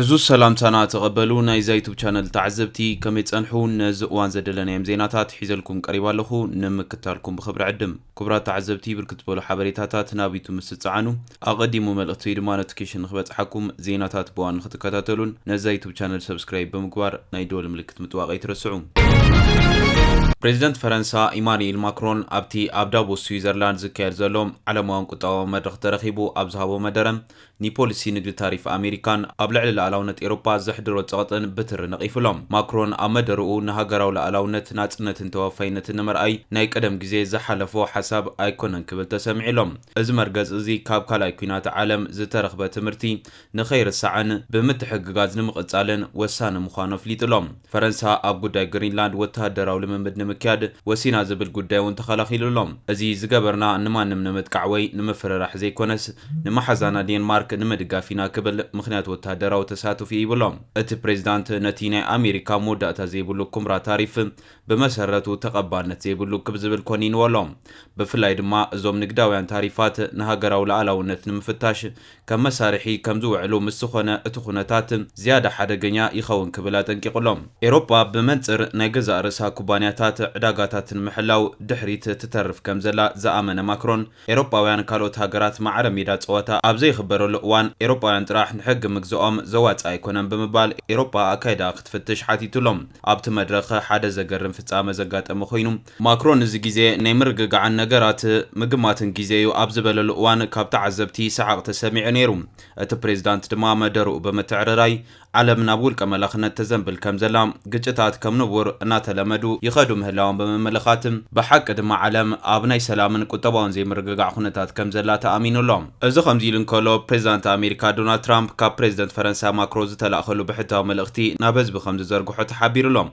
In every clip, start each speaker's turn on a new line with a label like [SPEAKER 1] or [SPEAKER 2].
[SPEAKER 1] ዕዙዝ ሰላምታና ተቐበሉ ናይዛ ዩቱብ ቻነል ተዓዘብቲ ከመይ ጸንሑ ነዚ እዋን ዘደለናዮም ዜናታት ሒዘልኩም ቀሪባ ኣለኹ ንምክታልኩም ብኽብሪ ዕድም ክቡራት ተዓዘብቲ ብርክት በሉ ሓበሬታታት ናብ ዩቱብ ምስ ትጸዓኑ ኣቐዲሙ መልእኽቲ ወይ ድማ ኖቲፊኬሽን ንክበጽሓኩም ዜናታት ብዋን ንክትከታተሉን ነዛ ዩቱብ ቻነል ሰብስክራይብ ብምግባር ናይ ደወል ምልክት ምጥዋቕ ኣይትረስዑ ፕሬዚደንት ፈረንሳ ኢማኑኤል ማክሮን ኣብቲ ኣብ ዳቮስ ስዊዘርላንድ ዝካየድ ዘሎ ዓለማውን ቁጠባዊ መድረኽ ተረኺቡ ኣብ ዝሃቦ መደረ ንፖሊሲ ንግዲ ታሪፍ ኣሜሪካን ኣብ ልዕሊ ልኣላውነት ኤሮፓ ዘሕድሮ ጸቕጥን ብትሪ ነቒፉ ኣሎ። ማክሮን ኣብ መደርኡ ንሃገራዊ ልኣላውነት፣ ናጽነትን ተወፋይነትን ንምርኣይ ናይ ቀደም ግዜ ዝሓለፎ ሓሳብ ኣይኮነን ክብል ተሰሚዑ ኣሎ። እዚ መርገጽ እዚ ካብ ካልኣይ ኲናት ዓለም ዝተረኽበ ትምህርቲ ንኸይርሳዕን ብምትሕግጋዝ ንምቕጻልን ወሳኒ ምዃኑ ኣፍሊጡ ኣሎ። ፈረንሳ ኣብ ጉዳይ ግሪንላንድ ወተሃደራዊ ልምምድ ንምክያድ ወሲና ዝብል ጉዳይ'ውን ተኸላኺሉ ኣሎ። እዚ ዝገበርና ንማንም ንምጥቃዕ ወይ ንምፍርራሕ ዘይኮነስ ንመሓዛና ዴንማርክ ንምድጋፍ ኢና ክብል ምኽንያት ወተሃደራዊ ተሳትፎኡ ሂቡ ኣሎ። እቲ ፕሬዚዳንት ነቲ ናይ ኣሜሪካ መወዳእታ ዘይብሉ ኩምራ ታሪፍ ብመሰረቱ ተቐባልነት ዘይብሉ ክብ ዝብል ኮኒንዎ ኣሎ። ብፍላይ ድማ እዞም ንግዳውያን ታሪፋት ንሃገራዊ ልኣላውነት ንምፍታሽ ከም መሳርሒ ከም ዝውዕሉ ምስ ዝኾነ እቲ ኩነታት ዝያዳ ሓደገኛ ይኸውን ክብል ኣጠንቂቑ ኣሎ። ኤሮጳ ብመንጽር ናይ ገዛእ ርእሳ ኩባንያታት ዕዳጋታት ንምሕላው ድሕሪት ትተርፍ ከም ዘላ ዝኣመነ ማክሮን፣ ኤሮጳውያን ካልኦት ሃገራት ማዕረ ሜዳ ጸወታ ኣብ ዘይኽበረሉ እዋን ኤሮጳውያን ጥራሕ ንሕጊ ምግዝኦም ዘዋጽእ ኣይኮነን ብምባል ኤሮጳ ኣካይዳኣ ክትፍትሽ ሓቲቱ ኣሎ። ኣብቲ መድረኽ ሓደ ዘገርም ፍጻመ ዘጋጠመ ኮይኑ፣ ማክሮን እዚ ግዜ ናይ ምርግጋዕን ነገራት ምግማትን ግዜ'ዩ ኣብ ዝበለሉ እዋን ካብ ተዓዘብቲ ሰሓቕ ተሰሚዑ ነይሩ። እቲ ፕሬዝዳንት ድማ መደርኡ ብምትዕርራይ ዓለም ናብ ውልቀ መላኽነት ተዘንብል ከምዘላ፣ ግጭታት ከም ንቡር እናተለመዱ ይኸዱ ምህላዎም ብምምልኻት፣ ብሓቂ ድማ ዓለም ኣብ ናይ ሰላምን ቁጠባውን ዘይምርግጋዕ ኩነታት ከምዘላ ተኣሚኑ ኣሎ። እዚ ከምዚ ኢሉ እንከሎ፣ ፕሬዝዳንት ኣሜሪካ ዶናልድ ትራምፕ ካብ ፕሬዝደንት ፈረንሳ ማክሮ ዝተላእከሉ ብሕታዊ መልእኽቲ ናብ ህዝቢ ከምዝዘርግሖ ተሓቢሩ ኣሎ።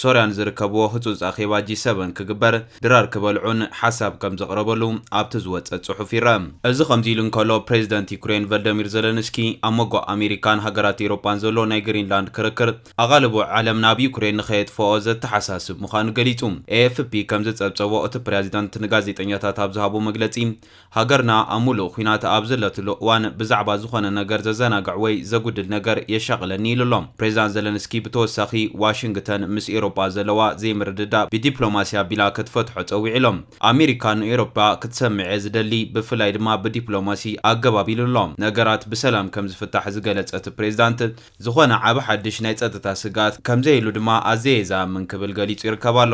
[SPEAKER 1] ሶርያን ዝርከብዎ ህጹጽ ኣኼባ ጂ ሰቨን ክግበር ድራር ክበልዑን ሓሳብ ከም ዘቕረበሉ ኣብቲ ዝወጸ ጽሑፍ ይረኣ። እዚ ከምዚ ኢሉ እንከሎ፣ ፕሬዚደንት ዩክሬን ቨልደሚር ዘለንስኪ ኣብ ሞጎ ኣሜሪካን ሃገራት ኤውሮጳን ዘሎ ናይ ግሪንላንድ ክርክር ኣቓልቦ ዓለም ናብ ዩክሬን ንኸየጥፍኦ ዘተሓሳስብ ምዃኑ ገሊጹ። ኤኤፍፒ ከም ዝጸብጸቦ እቲ ፕሪያዚደንት ንጋዜጠኛታት ኣብ ዝሃቦ መግለጺ፣ ሃገርና ኣብ ሙሉእ ኹናት ኣብ ዘለትሉ እዋን ብዛዕባ ዝኾነ ነገር ዘዘናግዕ ወይ ዘጉድል ነገር የሻቕለኒ ኢሉ'ሎ። ፕሬዝዳንት ዘለንስኪ ብተወሳኺ ዋሽንግተን ምስ ኤሮጳ ዘለዋ ዘይምርድዳእ ብዲፕሎማሲ ኣቢላ ክትፈትሖ ጸዊዑ'ሎ። ኣሜሪካ ንኤሮጳ ክትሰምዕ'የ ዝደሊ ብፍላይ ድማ ብዲፕሎማሲ ኣገባብ ኢሉ'ሎ። ነገራት ብሰላም ከምዝፍታሕ ዝገለጸ እቲ ፕሬዝዳንት፣ ዝኾነ ዓቢ ሓድሽ ናይ ጸጥታ ስግኣት ከም ዘየሉ ድማ ኣዚየ ዝኣምን ክብል ገሊጹ ይርከብ ኣሎ።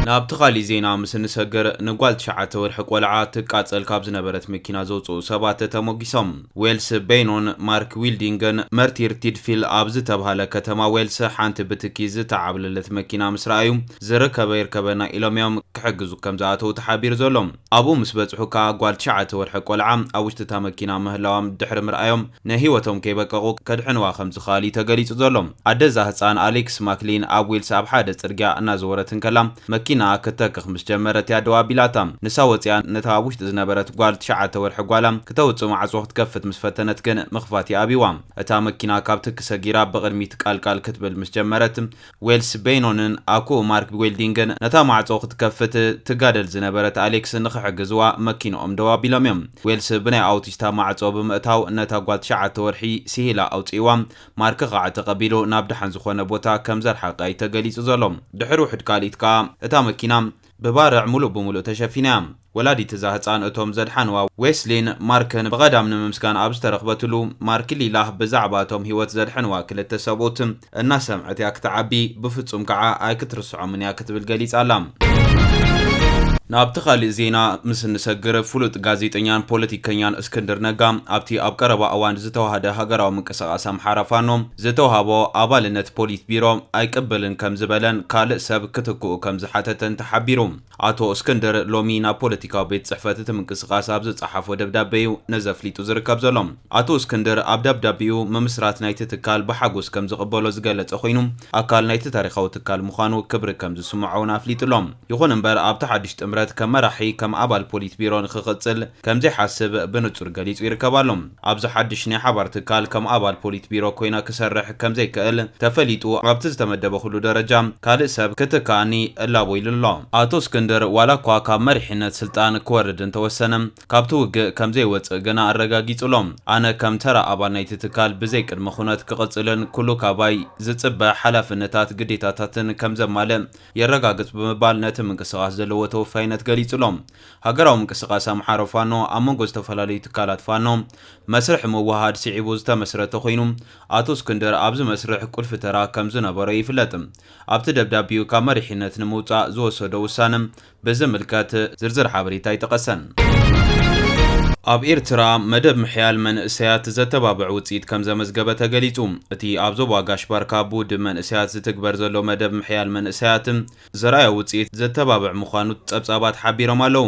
[SPEAKER 1] ናብቲ ካሊእ ዜና ምስ እንሰግር፣ ንጓል ትሽዓተ ወርሒ ቆልዓ ትቃጸል ካብ ዝነበረት መኪና ዘውጽኡ ሰባት ተሞጊሶም። ዌልስ በይኖን ማርክ ዊልዲንግን መርቲር ቲድፊል ኣብ ዝተብሃለ ከተማ ዌልስ ሓንቲ ብትኪ ዝተዓብለለት መኪና ምስ ረኣዩ፣ ዝርከበ ይርከበና ኢሎም'ዮም ክሕግዙ ከም ዝኣተዉ ተሓቢሩ ዘሎ። ኣብኡ ምስ በጽሑ ከኣ ጓል ትሽዓተ ወርሒ ቆልዓ ኣብ ውሽጢ እታ መኪና ምህላዋ ድሕሪ ምርኣዮም ናይ ህይወቶም ከይበቀቁ ከድሕንዋ ከምዝኸኣሉ እዩ ተገሊጹ ዘሎ። ኣደ እዛ ህጻን ኣሊክስ ማክሊን ኣብ ዌልስ ኣብ ሓደ ጽርግያ እናዘወረት እንከላ መኪናኣ ክትተክኽ ምስ ጀመረት እያ ደው ኣቢላታ። ንሳ ወጺኣ ነታ ኣብ ውሽጢ ዝነበረት ጓል ትሽዓተ ወርሒ ጓላ ክተውጽእ ማዕጾ ክትከፍት ምስ ፈተነት ግን ምኽፋት ይኣብዩዋ። እታ መኪና ካብ ትኪ ሰጊራ ብቕድሚት ቃልቃል ክትብል ምስ ጀመረት ዌልስ በይኖንን ኣኩኡ ማርክ ቢዌልዲንግን ነታ ማዕጾ ክትከፍት ትጋደል ዝነበረት ኣሌክስ ንኽሕግዝዋ መኪንኦም ደው ኣቢሎም እዮም። ዌልስ ብናይ ኣውቲስታ ማዕጾ ብምእታው ነታ ጓል ትሽዓተ ወርሒ ስሂላ ኣውጺእዋ። ማርክ ከኣ ተቐቢሉ ናብ ደሓን ዝኾነ ቦታ ከም ዘርሓቃ እዩ ተገሊጹ ዘሎ። ድሕሪ ውሑድ ካልኢት ከኣ እታ መኪና ብባርዕ ምሉእ ብምሉእ ተሸፊና እያ። ወላዲት እዛ ህጻን እቶም ዘድሓንዋ ዌስሊን ማርክን ብቐዳም ንምምስጋን ኣብ ዝተረኽበትሉ፣ ማርክ ሊላህ ብዛዕባ እቶም ህይወት ዘድሐንዋ ክልተ ሰብኡት እናሰምዐት እያ ክትዓቢ፣ ብፍጹም ከኣ ኣይክትርስዖምን እያ ክትብል ገሊጻ ኣላ። ናብቲ ካልእ ዜና ምስ እንሰግር፣ ፍሉጥ ጋዜጠኛን ፖለቲከኛን እስክንድር ነጋ፣ ኣብቲ ኣብ ቀረባ እዋን ዝተዋህደ ሃገራዊ ምንቅስቓስ ኣምሓራ ፋኖ፣ ዝተውሃቦ ኣባልነት ፖሊት ቢሮ ኣይቅበልን ከም ዝበለን ካልእ ሰብ ክትክኡ ከም ዝሓተተን ተሓቢሩ። ኣቶ እስክንድር ሎሚ ናብ ፖለቲካዊ ቤት ጽሕፈት እቲ ምንቅስቓስ ኣብ ዝጸሓፎ ደብዳቤ'ዩ ነዚ ኣፍሊጡ ዝርከብ ዘሎ። ኣቶ እስክንድር ኣብ ደብዳቤኡ ምምስራት ናይቲ ትካል ብሓጎስ ከም ዝቕበሎ ዝገለጸ ኮይኑ ኣካል ናይቲ ታሪኻዊ ትካል ምዃኑ ክብሪ ከም ዝስምዖ'ውን ኣፍሊጡ'ሎ። ይኹን እምበር ኣብቲ ሓድሽ ጥምረት ከም መራሒ ከም ኣባል ፖሊት ቢሮ ንኽቕጽል ከምዘይሓስብ ብንጹር ገሊጹ ይርከብ ኣሎ። ኣብዚ ሓድሽ ናይ ሓባር ትካል ከም ኣባል ፖሊት ቢሮ ኮይነ ክሰርሕ ከምዘይክእል ተፈሊጡ ኣብቲ ዝተመደበክሉ ደረጃ ካልእ ሰብ ክትክኣኒ እላቦ ኢሉ ኣሎ። ኣቶ እስክንድር ዋላ እኳ ካብ መሪሕነት ስልጣን ክወርድ እንተወሰነ ካብቲ ውግእ ከምዘይወጽእ ግና ኣረጋጊጹ ኣሎ። ኣነ ከም ተራ ኣባል ናይቲ ትካል ብዘይ ቅድመ ኩነት ክቕጽልን ኩሉ ካባይ ዝጽበ ሓላፍነታት ግዴታታትን ከምዘማልእ የረጋግጽ ብምባል ነቲ ምንቅስቓስ ዘለዎ ተወፋይነት ገሊጹ ኣሎ። ሃገራዊ ምንቅስቓስ ኣምሓሩ ፋኖ ኣብ መንጎ ዝተፈላለዩ ትካላት ፋኖ መስርሕ ምውህሃድ ስዒቡ ዝተመስረተ ኮይኑ ኣቶ እስክንድር ኣብዚ መስርሕ ቁልፊ ተራ ከምዝነበሮ ይፍለጥ። ኣብቲ ደብዳቤኡ ካብ መሪሕነት ንምውፃእ ዝወሰዶ ውሳነ ብዝምልከት ዝርዝር ሓበሬታ ኣይጠቐሰን። ኣብ ኤርትራ መደብ ምሕያል መንእሰያት ዘተባብዕ ውጽኢት ከምዘመዝገበ ተገሊጹ። እቲ ኣብ ዞባ ጋሽ-ባርካ ብውድብ መንእሰያት ዝትግበር ዘሎ መደብ ምሕያል መንእሰያት፣ ዘርኣዮ ውጽኢት ዘተባብዕ ምዃኑ ጸብጻባት ሓቢሮም ኣለዉ።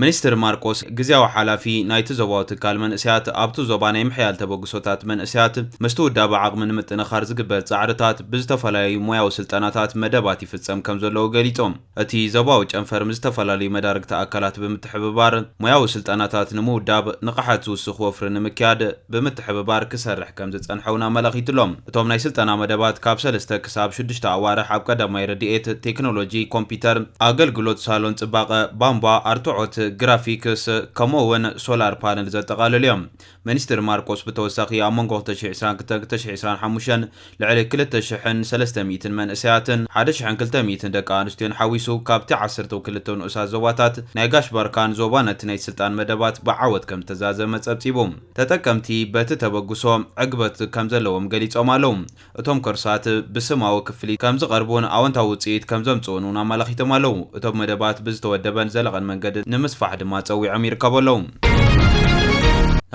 [SPEAKER 1] ሚኒስትር ማርቆስ፣ ግዝያዊ ሓላፊ ናይቲ ዞባዊ ትካል መንእሰያት፣ ኣብቲ ዞባ ናይ ምሕያል ተበግሶታት መንእሰያት ምስቲ ውዳበ ዓቕሚ ንምጥንኻር ዝግበር ጻዕርታት ብዝተፈላለዩ ሞያዊ ስልጠናታት መደባት ይፍጸም ከምዘለዉ ገሊጾም። እቲ ዞባዊ ጨንፈር ምስ ዝተፈላለዩ መዳርግቲ ኣካላት ብምትሕብባር ሞያዊ ስልጠናታት ንምውዳብ፣ ንቕሓት ዝውስኽ ወፍሪ ንምክያድ፣ ብምትሕብባር ክሰርሕ ከምዝጸንሐ'ውን ኣመላኺቱ'ሎ። እቶም ናይ ስልጠና መደባት ካብ ሰለስተ ክሳብ ሽዱሽተ ኣዋርሕ ኣብ ቀዳማይ ረድኤት፣ ቴክኖሎጂ ኮምፒተር፣ ኣገልግሎት ሳሎን ጽባቐ፣ ባንቧ፣ ኣርትዖት፣ ግራፊክስ ከምኡ'ውን ሶላር ፓነል ዘጠቓልሉ'ዮም። ሚኒስትር ማርቆስ ብተወሳኺ ኣብ መንጎ ክልተ ሽሕ ዕስራን ክልተ ሽሕ ዕስራን ሓሙሽተን ልዕሊ ክልተ ሽሕን ሰለስተ ሚእትን መንእሰያትን ሓደ ሽሕን ክልተ ሚእትን ደቂ ኣንስትዮን ሓዊሱ ካብቲ ዓሰርተው ክልተ ንኡሳት ዞባታት ናይ ጋሽ ባርካን ዞባ ነቲ ናይ ስልጣን መደባት ብዓወት ከም ዝተዛዘመ ጸብጺቡ። ተጠቀምቲ በቲ ተበግሶ ዕግበት ከም ዘለዎም ገሊጾም ኣለዉ። እቶም ኮርሳት ብስማዊ ክፍሊት ከም ዝቐርቡን ኣወንታዊ ውጽኢት ከም ዘምጽኡን እውን ኣመላኺቶም ኣለዉ። እቶም መደባት ብዝተወደበን ዘለቐን መንገዲ ንምስፋሕ ድማ ጸዊዖም ይርከቡ ኣለዉ።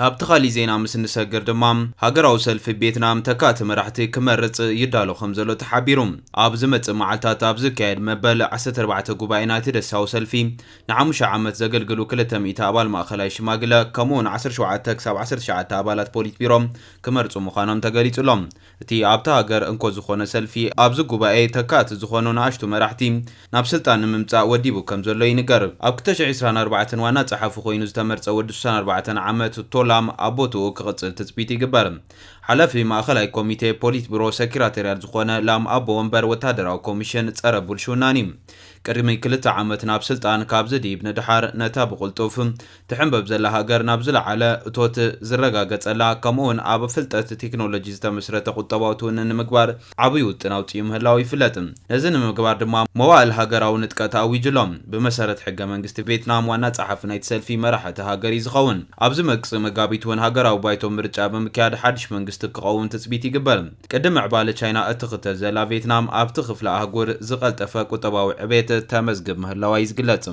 [SPEAKER 1] ናብቲ ካሊእ ዜና ምስ እንሰግር ድማ ሃገራዊ ሰልፊ ቬትናም ተካእቲ መራሕቲ ክመርፅ ይዳሎ ከምዘሎ ተሓቢሩ። ኣብ ዝመፅእ መዓልታት ኣብ ዝካየድ መበል ዓሰርተ ኣርባዕተ ጉባኤ ናይቲ ደሳዊ ሰልፊ ንሓሙሽተ ዓመት ዘገልግሉ ክልተ ሚእቲ ኣባል ማእኸላይ ሽማግለ ከምኡ እውን ዓሰርተ ሸውዓተ ክሳብ ዓሰርተ ትሽዓተ ኣባላት ፖሊት ቢሮ ክመርፁ ምዃኖም ተገሊፁሎም። እቲ ኣብታ ሃገር እንኮ ዝኾነ ሰልፊ ኣብዚ ጉባኤ ተካእቲ ዝኾኑ ንኣሽቱ መራሕቲ ናብ ስልጣን ንምምጻእ ወዲቡ ከም ዘሎ ይንገር። ኣብ ክልተ ሽሕ ዕስራን ኣርባዕተን ዋና ጸሓፊ ኮይኑ ዝተመርጸ ወዲ ስሳን ኣርባዕተን ዓመት ቶላም ኣብ ቦትኡ ክቕጽል ትጽቢት ይግበር። ሓላፊ ማእኸላይ ኮሚቴ ፖሊትብሮ ሰኪራተርያል ዝኾነ ላም ኣቦ ወንበር ወታደራዊ ኮሚሽን ጸረ ቡልሽውናን እዩ። ቅድሚ ክልተ ዓመት ናብ ስልጣን ካብ ዝድይብ ንደሓር ነታ ብቕልጡፍ ትሕንበብ ዘላ ሃገር ናብ ዝለዓለ እቶት ዝረጋገጸላ ከምኡ'ውን ኣብ ፍልጠት ቴክኖሎጂ ዝተመስረተ ቁጠባዊ ትውንን ንምግባር ዓብይ ውጥን ኣውጺኡ ምህላዉ ይፍለጥ። ነዚ ንምግባር ድማ መዋእል ሃገራዊ ንጥቀት ኣዊጁ ኣሎ። ብመሰረት ሕገ መንግስቲ ቬትናም ዋና ጸሓፊ ናይቲ ሰልፊ መራሒ እታ ሃገር እዩ ዝኸውን። ኣብ ዝመጽእ መጋቢት'ውን ሃገራዊ ባይቶ ምርጫ ብምክያድ ሓድሽ መንግስቲ ክቐውም ትጽቢት ይግበር። ቅድም ምዕባለ ቻይና እትኽተል ዘላ ቬትናም ኣብቲ ክፍለ ኣህጉር ዝቐልጠፈ ቁጠባዊ ዕቤት ተመዝግብ ምህላዋ'ዩ ዝግለጽ።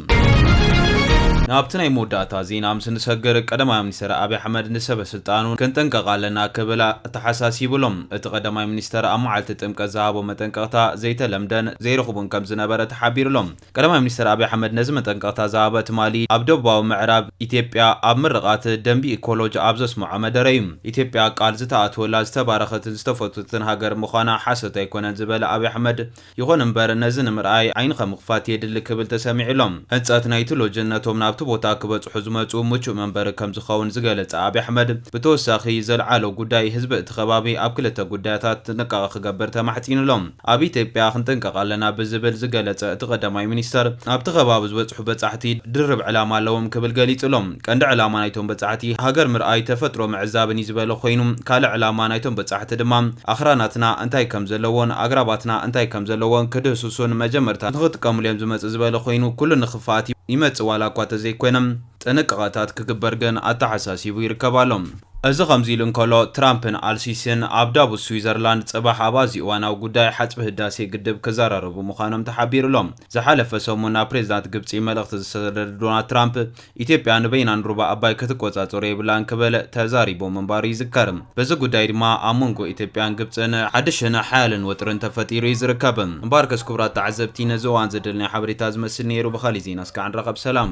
[SPEAKER 1] ናብቲ ናይ መወዳእታ ዜና ምስ እንሰግር፣ ቀዳማይ ሚኒስተር ኣብይ ኣሕመድ ንሰበ ስልጣኑ ክንጥንቀቕ ኣለና ክብል ኣተሓሳሲቡ ኣሎ። እቲ ቀዳማይ ሚኒስተር ኣብ መዓልቲ ጥምቀት ዝሃቦ መጠንቀቕታ ዘይተለምደን ዘይርኹብን ከምዝነበረ ተሓቢሩ ኣሎ። ቀዳማይ ሚኒስተር ኣብይ ኣሕመድ ነዚ መጠንቀቕታ ዝሃበ ትማሊ ኣብ ደቡባዊ ምዕራብ ኢትዮጵያ ኣብ ምርቓት ደምቢ ኢኮሎጅ ኣብ ዘስመዖ መደረ እዩ። ኢትዮጵያ ቃል ዝተኣትወላ ዝተባረኸትን ዝተፈትወትን ሃገር ምዃና ሓሶት ኣይኮነን ዝበለ ኣብይ ኣሕመድ ይኹን እምበር ነዚ ንምርኣይ ዓይንኻ ምኽፋት የድሊ ክብል ተሰሚዑ ኣሎ። ህንፀት ናይቲ ሎጅን ነቶም ናብቲ ቦታ ክበፅሑ ዝመፅኡ ምቹእ መንበሪ ከምዝኸውን ዝገለፀ ኣብይ ኣሕመድ ብተወሳኺ ዘልዓሎ ጉዳይ ህዝቢ እቲ ከባቢ ኣብ ክልተ ጉዳያታት ጥንቃቐ ክገብር ተማሕፂኑ ኣሎ። ኣብ ኢትዮጵያ ክንጥንቀቕ ኣለና ብዝብል ዝገለፀ እቲ ቀዳማይ ሚኒስትር፣ ኣብቲ ከባቢ ዝበፅሑ በፃሕቲ ድርብ ዕላማ ኣለዎም ክብል ገሊፁ'ሎ። ቀንዲ ዕላማ ናይቶም በፃሕቲ ሃገር ምርኣይ፣ ተፈጥሮ ምዕዛብን እዩ ዝበለ ኮይኑ፣ ካልእ ዕላማ ናይቶም በፃሕቲ ድማ ኣኽራናትና እንታይ ከም ዘለዎን ኣግራባትና እንታይ ከም ዘለዎን ክድህስሱን መጀመርታ ንኽጥቀሙሉ'ዮም ዝመፅእ ዝበለ ኮይኑ፣ ኩሉ ንኽፍኣት ይመፅእ ዋላ እኳ ተዘይኮነ። ጥንቃቐታት ክግበር ግን ኣተሓሳሲቡ ይርከብ ኣሎ። እዚ ከምዚ ኢሉ እንከሎ፣ ትራምፕን ኣልሲሲን ኣብ ዳቮስ ስዊዘርላንድ ጽባሕ ኣብ ኣዝዩ እዋናዊ ጉዳይ ሓጽቢ ህዳሴ ግድብ ክዘራረቡ ምዃኖም ተሓቢሩ ኣሎ። ዝሓለፈ ሰሙን ናብ ፕሬዚዳንት ግብጺ መልእኽቲ ዝሰደደ ዶናልድ ትራምፕ፣ ኢትዮጵያ ንበይናን ሩባ ኣባይ ክትቆጻጸሮ የብላን ክብል ተዛሪቡ ምንባሩ ይዝከር። በዚ ጉዳይ ድማ ኣብ መንጎ ኢትዮጵያን ግብጽን ሓድሽን ሓያልን ወጥርን ተፈጢሩ እዩ ዝርከብ። እምበኣርከስ ክቡራት ተዓዘብቲ ነዚ እዋን ዘደለና ሓበሬታ ዝመስል ነይሩ ብኻሊእ ዜና እስከ ዕንራኸብ ሰላም።